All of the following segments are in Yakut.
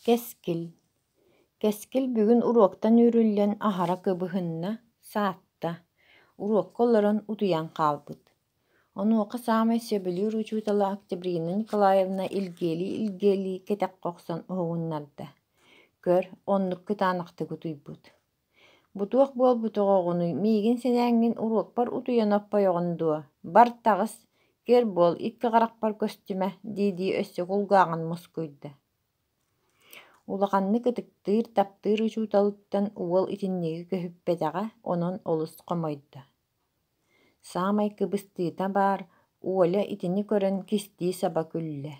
Кэскил Кэскил бүгүн уруоктан үүрүллэн аһара кыбыһынна, саатта, уруокка олорон утуйан хаалбыт. Онуоха саамай сөбүлүүр учуутала Октябрина Николаевна илгиэлии-илгиэлии кэтэххэ охсон уһугуннарда. Көр, оннук кытаанахтык утуйбут Бу туох буолбутуҥ оҕонуй, миигин сэнээҥҥин уруокпар утуйан оппойоҕун дуо, бар таҕыс, көр буол, икки харахпар көстүмэ, дии-дии өссө кулгааҕын мускуйда Улаханнык ытыктыыр, таптыыр учууталыттан уол итинниги көһүппэтэҕэ, онон олус хомойдо. Саамай кыбыстыыта баар, Оля итини көрөн кистии саба күллэ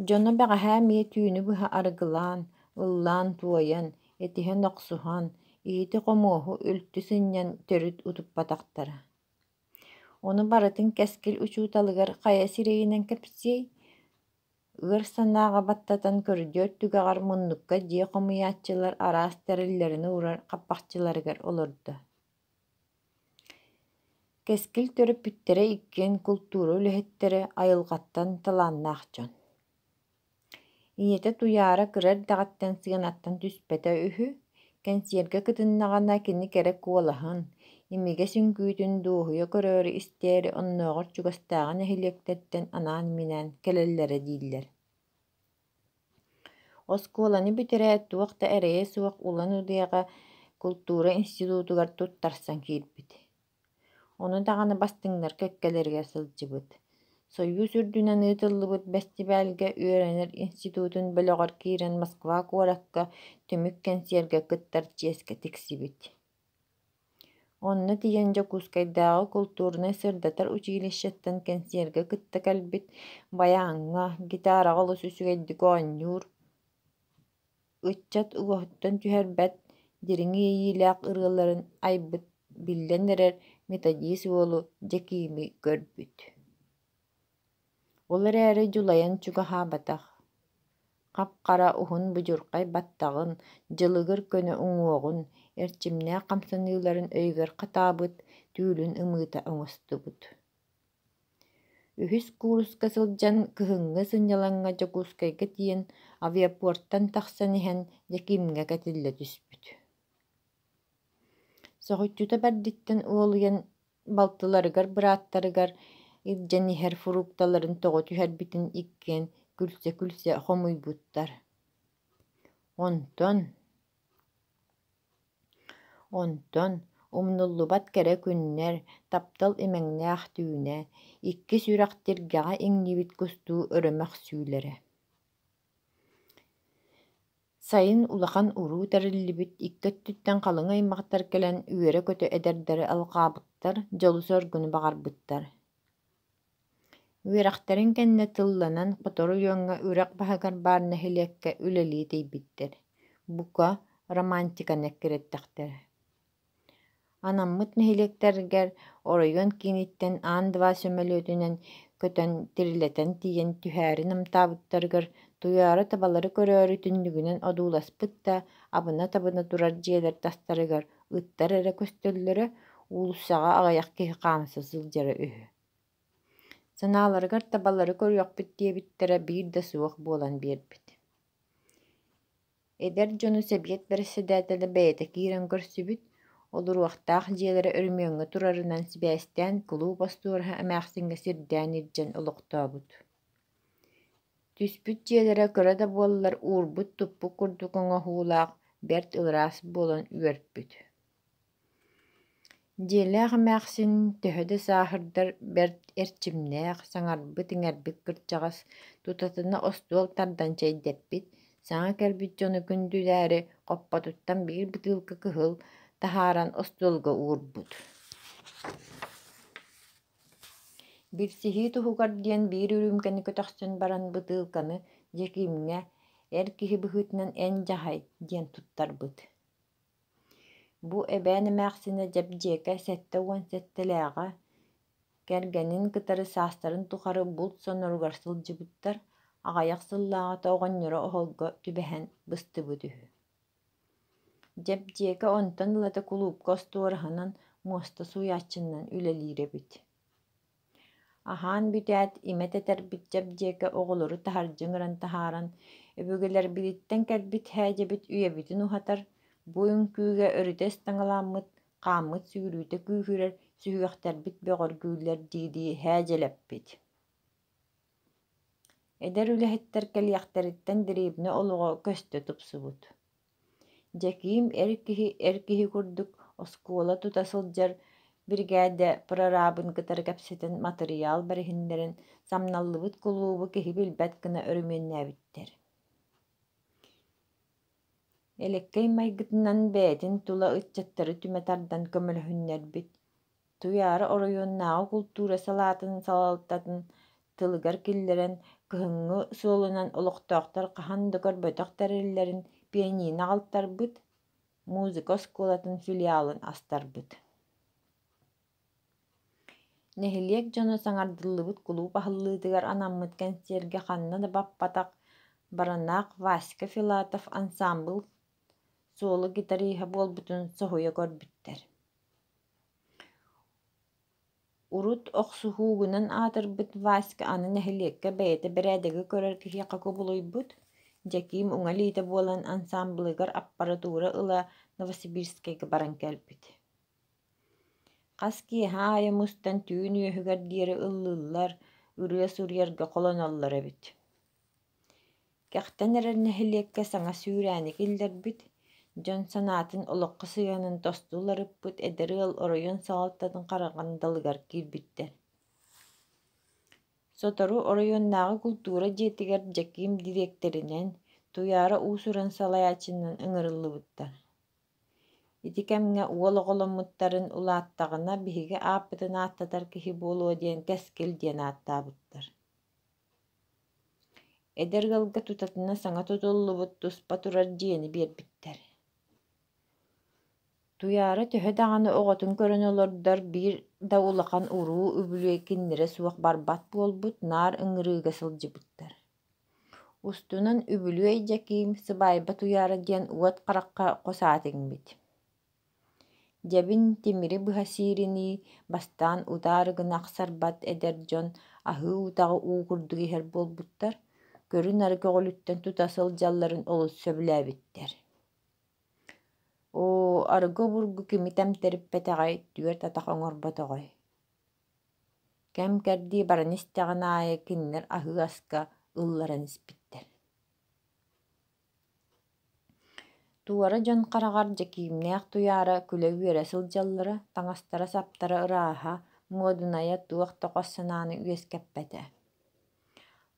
Дьоно бэҕэһээ эмиэ түүнү быһа арыгылаан, ыллаан-туойан, итиһэн-охсуһан, иһити-хомуоһу үлтү сынньан төрүт утуппатахтара. Ону барытын кэскил учууталыгар хайа сирэйинэн кэпсиэй, ыар санааҕа баттатан көрдүөр түгэҕэр муннукка дьиэ хомуйааччылар араас тэриллэрин уурар хаппахчыларыгар олордо Кэскил төрөппүттэрэ иккиэн култуура үлэһиттэрэ айылҕаттан талааннаах дьон. Ийэтэ Туйаара кыра эрдэҕиттэн сыанаттан түспэтэ үһү, кэнсиэргэ кытыннаҕына кини кэрэ куолаһын, имигэс үҥкүүтүн дуоһуйа көрөөрү истээри оннооҕор чугастааҕы нэһилиэктэртэн анаан-минээн кэлэллэрэ дииллэр Оскуоланы бүтэрээт туох да эрэйэ суох Улан Удэҕэ култуура институтугар туттарсан киирбит. Ону даҕаны бастыҥнар кэккэлэригэр сылдьыбыт. Союз үрдүнэн ыытыллыбыт бэстибээлгэ үөрэнэр институтун бөлөҕөр киирэн Москва куоракка түмүк кэнсиэргэ кыттар чиэскэ тиксибит Онно тиийэн Дьокуускайдааҕы култуурунай-сырдатар училищеттан кэнсиэргэ кытта кэлбит, баяаҥҥа, гитараҕа олус үчүгэйдик оонньуур, ыччат уоһуттан түһэрбэт дириҥ иэйиилээх ырыаларын айбыт, биллэн эрэр методист уолу Дьэкиими көрбүт Ол эрээри дьулайан чугаһаабатах, хап-хара уһун будьурхай баттаҕын, дьылыгыр көнө уҥуоҕун, эрчимнээх хамсаныыларын өйүгэр хатаабыт, түүлүн ымыыта оҥостубут. Үһүс кууруска сылдьан кыһыҥҥы сынньалаҥҥа Дьокуускайга тиийэн авиапортан тахсан иһэн Дьэкиимҥэ кэтиллэ түспүт. Соһуччута бэрдиттэн уолуйан балтыларыгар бырааттарыгар илдьэн иһэр фрукталарын тоҕо түһэрбитин иккиэн күлсэ-күлсэ хомуйбуттар онтон онтон умнуллубат кэрэ күннэр таптал имэҥнээх түүнэ иккис үрэх тиргэҕэ иҥнибит кустуу өрө мөхсүүлэрэ Сайын улахан уруу тэриллибит икки өттүттэн халыҥ аймахтар кэлэн үөрэ-көтө эдэрдэри алҕаабыттар, дьолу-соргуну баҕарбыттар Үөрэхтэрин кэннэ тылланан сотору дьоҥҥо үрэх баһыгар баар нэһилиэккэ үлэлии тиийбиттэр. Бука, романтиканы эккирэттэхтэр Анаммыт нэһилиэктэргэр оройуон кииниттэн аан два сөмөлүөтүнэн көтөн тирилэтэн тиийэн түһээри намтаабыттарыгар Туйаара табалары көрөөрү түннүгүнэн одууласпыт да абына-табына турар дьиэлэр тастарыгар ыттар эрэ көстөллөрө, уулуссаҕа аҕыйах киһи хаамса сылдьара үһү. Санааларыгар табалары көрүөхпүт диэбиттэрэ биир да суох буолан биэрбит Эдэр дьону сэбиэт бэрэссэдээтэлэ бэйэтэ киирэн көрсүбүт, олоруохтаах дьиэлэрэ өрөмүөҥҥэ турарынан сибээстээн кулууп остуораһа эмээхсиҥҥэ сирдээн илдьэн олохтообут Түспүт дьиэлэрэ кыра да буоллар уурбут-туппут курдук оҥоһуулаах бэрт ылараас буолан үөрпүт Дьиэлээх эмээхсин төһө да сааһырдар бэрт эрчимнээх, саҥарбыт-иҥэрбит кырдьаҕас, тутатына остуол тардан чэйдэппит, саҥа кэлбит дьону күндүлээри хоппотуттан биир бытыылка кыһыл таһааран остуолга уурбут Бирсиһии туһугар диэн биир үрүүмкэни көтөхсөн баран бытыылканы Дьэкиимҥэ «Эр киһи быһыытынан эн дьаһай» диэн туттарбыт Бу эбээн эмээхсинэ дьэбдьиэкэ сэттэ уон сэттэлээҕэ кэргэнин кытары саастарын тухары булт соноругар сылдьыбыттар, аҕыйах сыллааҕыта оҕонньоро оһолго түбэһэн быстыбыт үһү Дьэбдьиэкэ онтон ылата кулуупка остуораһынан, муоста сууйааччынан үлэлиир эбит Аһаан бүтээт, имэ тэтэрбит чэбдиэкэ оҕолору таһырдьыҥыран таһааран, өбүгэлэрбититтэн кэлбит һээдьэбит үйэбитин уһатар, бу үҥкүүгэ өрүтэ ыстаҥалааммыт, хааммыт сүүрүүтэ күүһүрэр сүһүөхтэрбит бөҕөргүүллэр дии-дии һээдьэлэппит Эдэр үлэһиттэр кэлиэхтэриттэн дребни олоҕо көстө тупсубут Дьэкиим эр киһи эр киһи курдук оскуола тута сылдьар биригээдэ прораабын кытары кэпсэтэн матырыйаал бэриһиннэрэн, самналлыбыт кулуубу киһи билбэт гына өрөмүөннээбиттэр Элэккэй майгытынан бэйэтин тула ыччаттары түмэ тардан көмөлөһүннэрбит Туйаара оройуоннааҕы култуура салаатын салалтатын тылыгар киллэрэн, кыһыҥҥы суолунан олохтоохтор хаһан да көрбөтөх тэриллэрин пианино аҕалтарбыт, музыка оскуолатын филиалын астарбыт. Нэһилиэк дьоно саҥардыллыбыт кулууп аһыллыытыгар анаммыт кэнсиэргэ ханна да баппатах баранаах Васька Филатов ансаамбыл суолу гитариһа буолбутун соһуйа көрбүттэр урут охсуһуу гынан аатырбыт васька аны нэһилиэккэ бэйэтэ бэрээдэги көрөр киһиэхэ кубулуйбут дьэкиим уҥа илиитэ буолан ансаамбылыгар аппаратура ыла новосибирскайга баран кэлбит хас киэһэ аайы мустан түүн үөһүгэр диэри ыллыыллар ырыа суруйарга холоноллор эбит Кэхтэн эрэр нэһилиэккэ саҥа сүүрээни киллэрбит, дьон санаатын олоххо сыһыанын тосту уларыппыт эдэр ыал оройуон салалтатын хараҕын далыгар киирбиттэр Сотору оройуоннааҕы култуура дьиэтигэр Дьэкиим дириэктэринэн, Туйаара уус-уран салайааччынан ыҥырыллыбыттар. Ити кэмҥэ уол оҕоломмуттарын улааттаҕына биһиги ааппытын ааттатар киһи буолуо диэн Кэскил диэн ааттаабыттар Эдэр ыалга тутатына саҥа тутуллубут туспа турар дьиэни биэрбиттэр Туйаара төһө даҕаны оҕотун көрөн олордор биир да улахан уруу үбүлүөй кинилэрэ суох барбат буолбут наар ыҥырыыга сылдьыбыттар Устунан үбүлүөй Дьэкиим сыбаайба Туйаара диэн уот харахха хос аат иҥмит Дьэбин тимири быһа сииринии, бастаан утаары гына ахсарбат эдэр дьон аһыы утаҕы уу курдук иһэр буолбуттар, көрү-нары көҕүлүттэн тута сылдьалларын олус сөбүлээбиттэр «Оо, арыгы обургу кими тэмтэриппэтэҕэй, түөрт атах оҥорботоҕой» кэм-кэрдии баран истэҕин аайы кинилэр аһыы аска ылларан испиттэр Туора дьон хараҕар Дьэкиимнээх Туйаара күлэ-үөрэ сылдьаллара, таҥастара-саптара ырааһа, муодунайа туох да хос санааны үөскэппэтэ.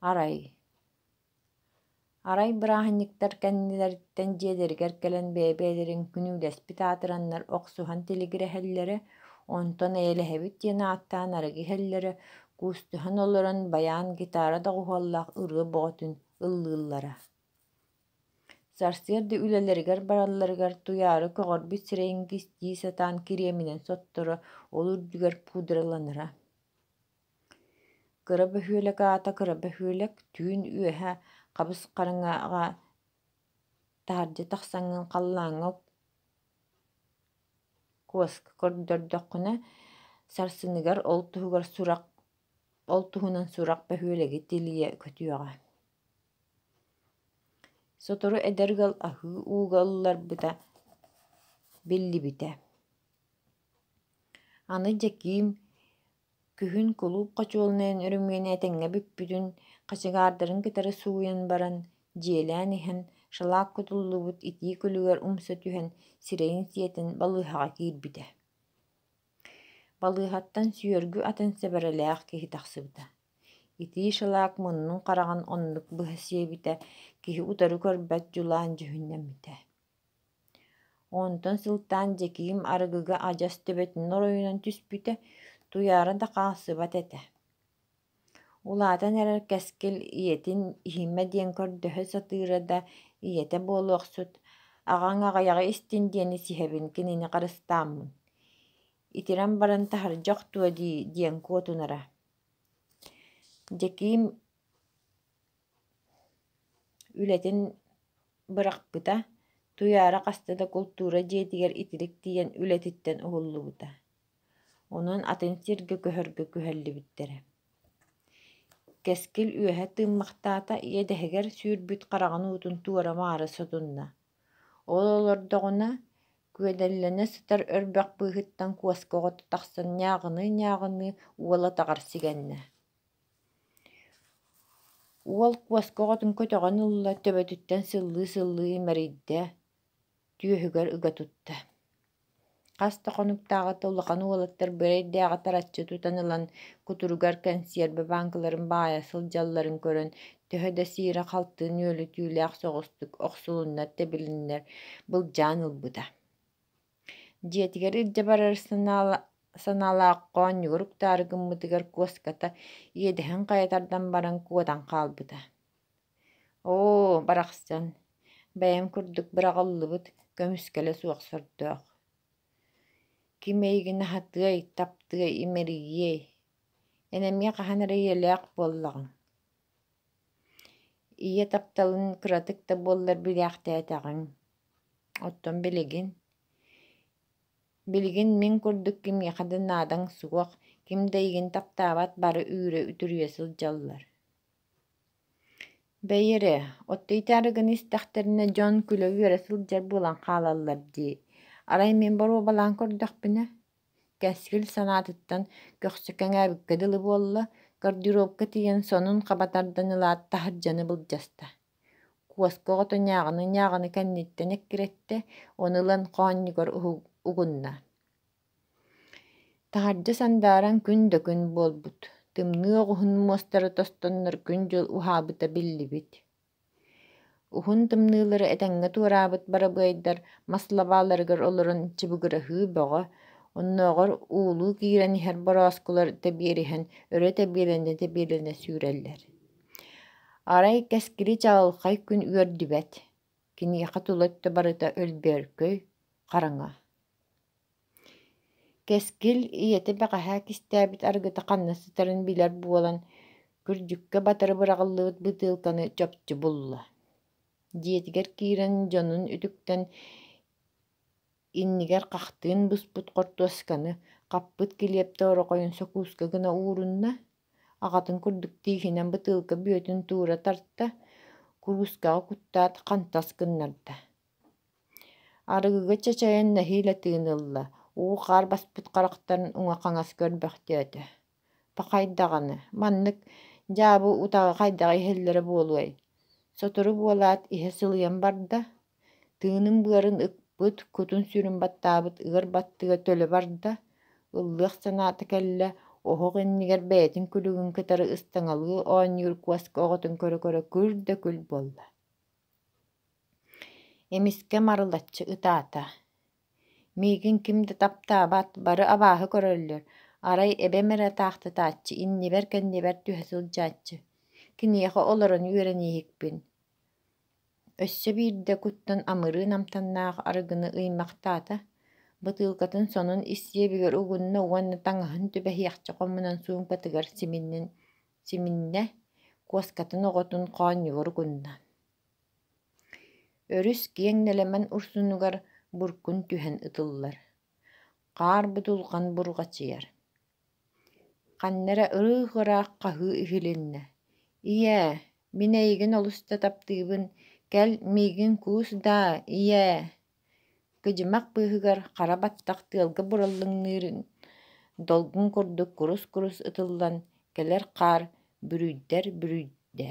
Арай Арай бырааһынньыктар кэннилэриттэн дьиэлэригэр кэлэн бэйэ-бэйэлэрин күнүүлэспит аатыраннар охсуһан тилигирэһэллэрэ, онтон «Эйэлэһэбит» диэн ааттаан арыгы иһэллэрэ, куустуһан олорон байаан гитара доҕуһуоллаах ырыа бөҕөтүн ыллыыллара Сарсыарда үлэлэригэр баралларыгар туйаары көҕөрбүт сирэйин кистии сатаан кириэминэн сотторо, ол үрдүгэр пудраланара Кыра бөһүөлэк аата кыра бөһүөлэк, түүн үөһэ хабыс хараҥаҕа таһырдьа тахсаҥҥын халлааҥҥа куоска көрдөрдөххүнэ, сарсыныгар ол туһугар сурах, ол туһунан сурах бөһүөлэги тилийэ көтүөҕэ Сотору эдэр ыал аһыы ууга ылларбыта биллибитэ Аны Дьэкиим күһүн кулууп хочуолунайын өрөмүөнэ этэҥҥэ бүппүтүн, хачыгаардарын кытары сууйан баран, дьиэлээн иһэн, шалаат кутуллубут итии күлүгэр умса түһэн, сирэйин сиэтэн балыыһаҕа киирбитэ Балыыһаттан сүөргү атын сэбэрэлээх киһи тахсыбыта, итии шелак муннун хараҕын оннук быһа сиэбитэ, киһи утары көрбөт дьулаан дьүһүннэммитэ Онтон сылтаан Дьэкиим арыгыга адьас төбөтүн оройунан түспүтэ, туйаара да хаалсыбат этэ Улаатан эрэр Кэскил ийэтин иһимэ диэн көрдөһө сатыыра да, ийэтэ буолуохсут, аҕаҥ аҕыйаҕы истин диэни сиһэбин кинини харыстааммын, итирэн баран таһырдьа охтуо дии диэн куотунара Дьэкиим үлэтин бырахпыта, Туйаара хаста да култуура дьиэтигэр итирик тиийэн үлэтиттэн уһуллубута Онон атын сиргэ көһөргө күһэллибиттэрэ Кэскил үөһэ тыыммахтаата, иэдэһигэр сүүрбүт хараҕын уутун туора-маары сотунна, ол олордоҕуна, күөдэллэнэ сытар өрбөх быыһыттан куоска оҕото тахсан ньааҕыныы-ньааҕыныы уола атаҕар сигэннэ. Уол куоска оҕотун көтөҕөн ылла, төбөтүттэн сыллыы-сыллыы имэрийдэ түөһүгэр ыга тутта хас да хонуктааҕыта улахан уолаттар бырайдээҕи тараччы тутан ылан кутуругар кэнсиэрбэ бааҥкаларын баайа сылдьалларын көрөн төһө да сиирэ-халты нүөлүтүүлээх соҕустук охсулуннар-тэбилиннэр былдьаан ылбыта дьиэтигэр илдьэ барар санаалаах хоонньугар уктаары гыммытыгар куоската иэдэһин хайа тардан баран куотан хаалбыта Оо, барахсан, бэйэм курдук быраҕыллыбыт көмүскэлэ суох сордоох. Ким эйигин аһатыай, таптыай, имэрийиэй, эн эмиэ хаһан эрэ ийэлээх буоллаҕыҥ. Ийэ тапталын кыратык да буоллар билээхтээтэҕиҥ. Оттон билигин? Билигин мин курдук кимиэхэ да наадаҥ суох, ким да эйигин таптаабат бары үүрэ үтүрүйэ сылдьаллар Бэйи эрэ, оттуйтаары гына истэхтэринэ дьон күлэ үөрэ сылдьар буолан хаалаллар дии, арай мин боруобалаан көрдөхпүнэ, Кэскил санаатыттан көхсө кэҥээбиккэ дылы буолла, гардеробка тиийэн сонун хаба тардан ылаат таһырдьаны былдьаста. Куоска оҕото ньааҕыны-ньааҕыны кэнниттэн эккирэттэ, ону ылан хоонньугар угунна Таһырдьа сандааран күн да күн буолбут, тымныы оҕуһун муостара тостоннор күн-дьыл уһаабыта биллибит. Уһун тымныылары этэҥҥэ туораабыт барабыайдар мас лабааларыгар олорон чыбыгыраһыы бөҕө, оннооҕор уулуу киирэн иһэр борооскулар тэбиэриһэн өрө тэбиэлэнэ-тэбиэлэнэ сүүрэллэр. Арай кэскили чаҕылхай күн үөрдүбэт, киниэхэ тула өттө барыта өлбөөркөй, хараҥа. Кэскил ийэтэ бэҕэһээ кистээбит арыгыта ханна сытарын билэр буолан, күрдьүккэ батары быраҕыллыбыт бытыылканы чопчу булла, дьиэтигэр киирэн дьонун үтүктэн, иннигэр хахтыын буспут хортуосканы хаппыт килиэптэ орохойун сокууска гына уурунна, аҕатын курдук тииһинэн бытыылка бүөтүн туура тарта, куруускаҕа куттаат хантас гыннарда Арыгыга чачайан нэһиилэ тыын ылла, уу-хаар баспыт харахтарын уҥа-хаҥас көрбөхтөөтө: «Пахай даҕаны, маннык дьаабы утаҕы хайдаҕа иһэллэрэ буолуой? Сотору буолаат, иһэ сылыйан барда, тыынын-быарын ыппыт, кутун-сүрүн баттаабыт ыар баттыга төлө барда, ыллыах санаата кэллэ, оһох иннигэр бэйэтин күлүгүн кытары ыстаҥалыы оонньуур куоска оҕотун көрө-көрө күл да күл буолла» Эмискэ марылаччы ытаата: «Миигин ким да таптаабат, бары абааһы көрөллөр, арай эбэм эрэ атаахтатааччы, иннибэр-кэннибэр түһэ сылдьааччы, киниэхэ олорон үөрэнииһикпин» Өссө биирдэ куттан амырыы намтаннаах арыгыны ыймахтаата, бытыылкатын сонун ис сиэбигэр угунна уонна таҥаһын түбэһиэхчэ хомунан суумкатыгар симиннин симиннэ, куоскатын оҕотун хоонньуору гынна Өрүс киэҥ нэлэмэн урсунугар буркун түһэн ытыллар, хаар будулҕан бурҕачыйар. Ханна эрэ ырыых ыраах хаһыы иһилиннэ, «Ийээ, мин эйигин олус да таптыыбын, кэл миигин куус даа, ийээ» Кыдьымах быыһыгар хара баттах тыалга бураллыҥныырын долгун курдук курус-курус ытыллан кэлэр хаар бүрүйдэр-бүрүйдэ